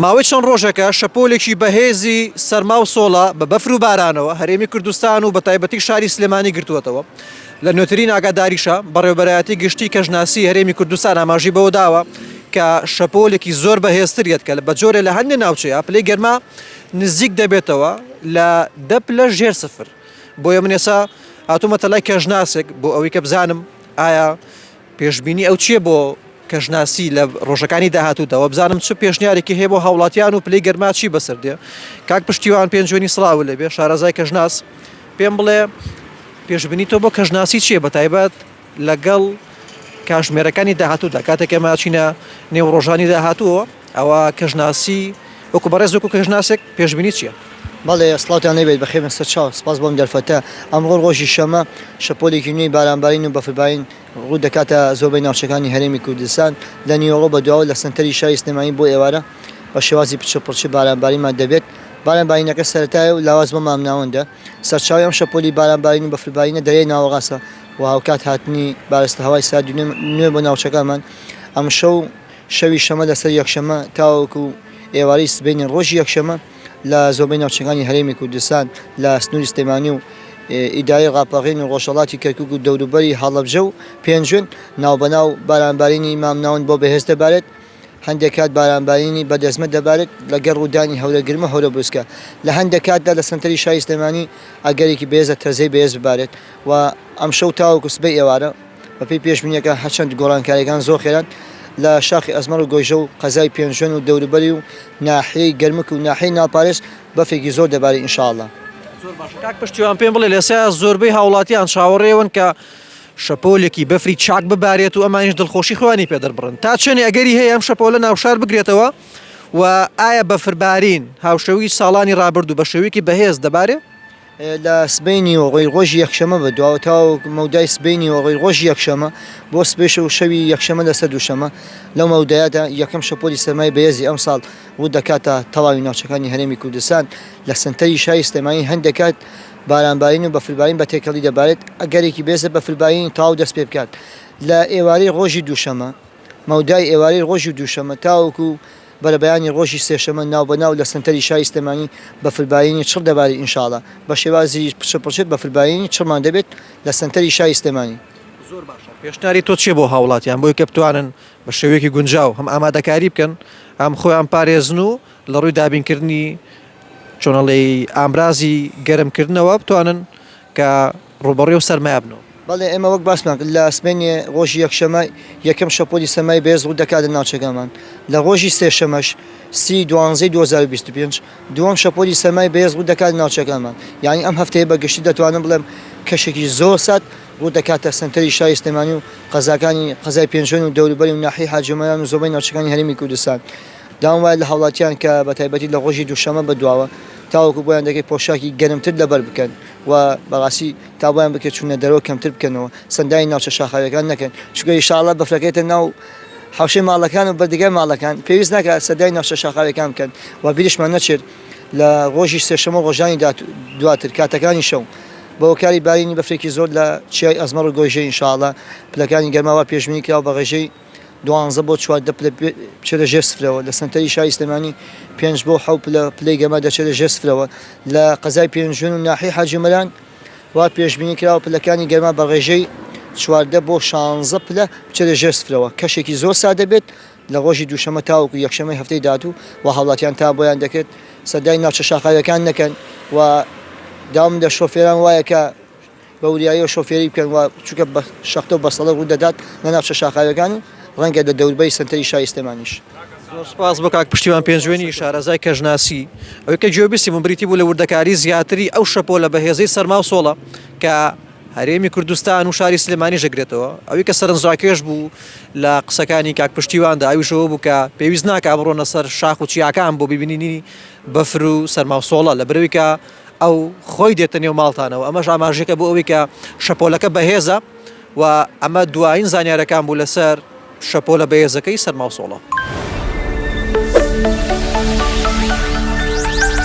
ماوەی چەند ڕۆژێکە شەپۆلێکی بەهێزی سەرما و سۆڵە بە بەفر و بارانەوە هەرێمی کوردستان و بەتایبەتی شاری سلێمانی گرتووەتەوە، لە نوێترین ئاگاداریشە بەڕێوەبەرایەتی گشتی کەشناسی هەرێمی کوردستان ئاماژەی بەوەداوە کە شەپۆلێکی زۆر بەهێزتر یەت کە بەجۆرێ لە هەندێ ناوچەیا پلەی گەرما نزیک دەبێتەوە لە دە پلە ژێر سفر بۆیە من ئێستا هاتوومەتە لای کەشناسێک بۆ ئەوەی کە بزانم ئایا پێشبینی ئەو چییە بۆ کەشناسی لە ڕۆژەکانی داهاتوودا؟ وابزانم چ پێشنیارێکی هەیە بۆ هاوڵاتیان و پلەی گەرما چی بەسەر دێ؟ کاک پشتیوان پێنجوێنی سڵاوو لێ بێ، شارەزای کەشناس، پێم بڵێ پێشبینی تۆ بۆ کەشناسی چییە بەتایبەت لەگەڵ کاژمێرەکانی داهاتوودا کاتێک ئێمە ئەچینە نێو ڕۆژانی داهاتووەوە؟ ئەوە کەژناسی وەکو بەڕێز وەکو کەژناسێک پێشبینی چیە؟ بەڵێ سڵاوتان لێبێت بەخێربێن سەرچاو سپاس بۆم دەرفەتە ئەمڕۆ ڕۆژی شەمە شەپۆلێکی نوێی بارانبارین و بەفربارین ڕوودەکاتە زۆربەی ناوچەکانی هەرێمی کوردستان لە نیوەڕۆ بەدواوە لە سەنتەری شاری سلێمانی بۆ ئێوارە بە شێوازی پچڕ پڕچ بارانبارینمان دەبێت باران بارینەکە سەرەتایە و لاواز بۆ مامناوەندە سەرچاوی ئەم شەپۆلی بارانبارین و بەفربارینە دەرێی ناوەڕاستە و هاوکات هاتنی بارستە هەوای ساردی نوێ بۆ ناوچەکانمان ئەمشەو شەوی شەمە لەسەر یەکشەمە تاوەکو ئێوارەی سبەینێ ڕۆژی یەکشەمە لە زۆربەی ناوچەکانی هەرێمی کوردستان لە سنووری سلێمانی و ئیدارەی ڕاپەڕین و ڕۆژهەڵاتی کەرکووک و دەوروبەری هەڵەبجە و پێنجوێن ناوبەناو بارانبارینی مامناوەند بۆ بەهێز دەبارێت، هەندێک کات بارانبارینی بەدەزمە دەبارێت لەگەڵ ڕوودانی هەورە گرم و هەورە بروسکە، لە هەندێک کاتدا لە سەنتەری شاری سلێمانی ئەگەرێکی بەهێزە تەزەی بەهێز ببارێت و ئەمشەو تاوەکو سبەی ئێوارە. بەپێی پێشبینییەکان هەرچەند گۆڕانکارییەکان زۆر خێران لە شاخی ئەزمەڕ و گۆیژە و قەزای پێنجوێن و دەوروبەری و ناحیەی گەرمک و ناحیەی ناڵپارێز بەفرێکی زۆر دەباری ان شاء اللە. زۆر باشە کاک پشتیوان پێم بڵێ لەسێ زۆربەی هاوڵاتیان چاوەڕێ ئەوەن کە شەپۆلێکی بەفری چاک ببارێت و ئەمانیش دڵخۆشی خۆیانی پێ دەربڕن تا چەنێ ئەگەری هەیە ئەم شەپۆلە ناوشار بگرێتەوە و ئایا بەفربارین هاوشێوەی ساڵانی ڕابردوو بە شێوەیەکی بەهێز دەبارێ؟ لە سبەینی و غەیر ڕۆژی یەکشەمە بەدواوە تاوەک مەودای سبەینی و غەیر ڕۆژی یەکشەمە بۆ سبەیش و شەوی یەکشەمە لەسەر دووشەمە لەو مەودایەدا یەکەم شەپۆلی سەرمای بەهێزی ئەمساڵ ڕوو دەکاتە تەواوی ناوچەکانی هەرێمی کوردستان لە سەنتەری شاری سلێمانی هەندێک کات بارانبارین و بەفربارین بە تێکەڵی دەبارێت ئەگەرێکی بەێزە بەفربارینی تەواو دەست پێ بکات لە ئێوارەی ڕۆژی دووشەمە مەودای ئێوارەی ڕۆژی دووشەمە تاوەکو بەرەبەیانی ڕۆژی سێشەمە ناو بە ناو لە سەنتەری شاری سلێمانی بەفربارینی چڕ دەبارین ئینشاڵا بە شێوازی پچڕ پچڕ بەفربارینی چڕمان دەبێت لە سەنتەری شاری سلێمانی. زۆر باشە پێشنیاری تۆ چیە بۆ هاوڵاتیان بۆی کە بتوانن بە شێوەیەکی گونجاو هەم ئامادەکاری بکەن هەم خۆیان پارێزن و لە ڕووی دابین کردنی چۆن ئەڵێی ئامرازی گەرم کردنەوە بتوانن کە ڕووبەڕووی ئەو سەرمایە بنەوە. بەڵێ ئێمە وەک باسمان کرد لە سبەینێ ڕۆژی یەکشەممە یەکەم شەپۆلی سەرمای بەهێز ڕوو دەکات لە ناوچەکەمان، لە ڕۆژی سێشەممەش سی دوانزەی دوو هەزار و بیست و پێنج دووەم شەپۆلی سەرمای بەهێز ڕوو دەکات لە ناوچەکەمان، یانی ئەم هەفتەیە بە گشتی دەتوانم بڵێم کەشێکی زۆر سارد ڕوو دەکاتە سەنتەری شاری سلێمانی و قەزاکانی قەزای پێنجوێن و دەوروبەری و ناحیەی حاجی ئۆمەران و زۆربەی ناوچەکانی هەرێمی کوردستان داوام وایە لە هاوڵاتیان کە بە تایبەتی لە ڕۆژی دووشەممە بەدواوە تاوەکو بۆیان دەکرێت پۆشاکی گەرمتر لەبەر بکەن. و بەڕاستی تا وایان بکرێت چوونە دەرەوە کەمتر بکەنەوە سەندانی ناوچە شاخاویەکان نەکەن چونکە ئیشاڵا بەفرەکە یەتە ناو حەوشەی ماڵەکان و بەردەگای ماڵەکان پێویست ناکات سەدای ناوچە شاخاویەکان بکەن و بیرشمان نەچێت لە ڕۆژی سێشەمە ڕۆژانی دواتر کاتەکانی شەو بەوەکاری بارینی بەفرێکی زۆر لە چیای ئەزمەڕ و گۆیژەی ئیشاڵا پلەکانی گەرماوا پێشبینی کراوە بە ڕێژەی دوانزە بۆ چواردە پلە بچێتە ژێر سفرەوە، لە سەنتەری شاری سلێمانی پێنج بۆ حەوت پلە پلەی گەرما دەچێتە ژێر سفرەوە، لە قەزای پێنجوێن و ناحیەی حاجی مەران وا پێشبینی کراوە پلەکانی گەرما بە ڕێژەی چواردە بۆ شانزە پلە بچێتە ژێر سفرەوە، کەشێکی زۆر ساردە بێت، لە ڕۆژی دووشەممە تاوەکو یەکشەممەی هەفتەی داهاتوو وا هاوڵاتیان تا بۆیان دەکرێت سەردانی ناوچە شاخاوییەکان نەکەن و داوام لە شۆفێران وایە کە بە وریاییەوە شۆفێری بکەن و چونکە بە شەختە و بەستەڵەک ڕوو دەدات لە ناوچە شاخاویەکان و ڕەنگە لە دەوربەری سەنتەری شاری سلێمانیش. زۆر سپاس بۆ کاک پشتیوان پێنجوێنی شارەزای کەشناسی. ئەوەی کە گوێ بیستی بووم بریتی بوو لە وردەکاری زیاتری ئەو شەپۆلە بەهێزەی سەرما و سۆڵە کە هەرێمی کوردستان و شاری سلێمانیش دەگرێتەوە. ئەوەی کە سەرنجڕاکێش بوو لە قسەکانی کاک پشتیواندا ئەویش ئەوە بوو کە پێویست ناکا بڕۆنە سەر شاخ و چیاکان بۆ ببینینی بەفر و سەرما و سۆڵە لەبەرئەوەی کە ئەو خۆی دێتە نێو ماڵتانەوە، ئەمەش ئاماژەیەکە بۆ ئەوەی کە شەپۆلەکە بەهێزە و ئەمە دوایین زانیارییەکان بوو لەسەر شەپۆلە بەهێزەکەی سەرماوسۆڵە.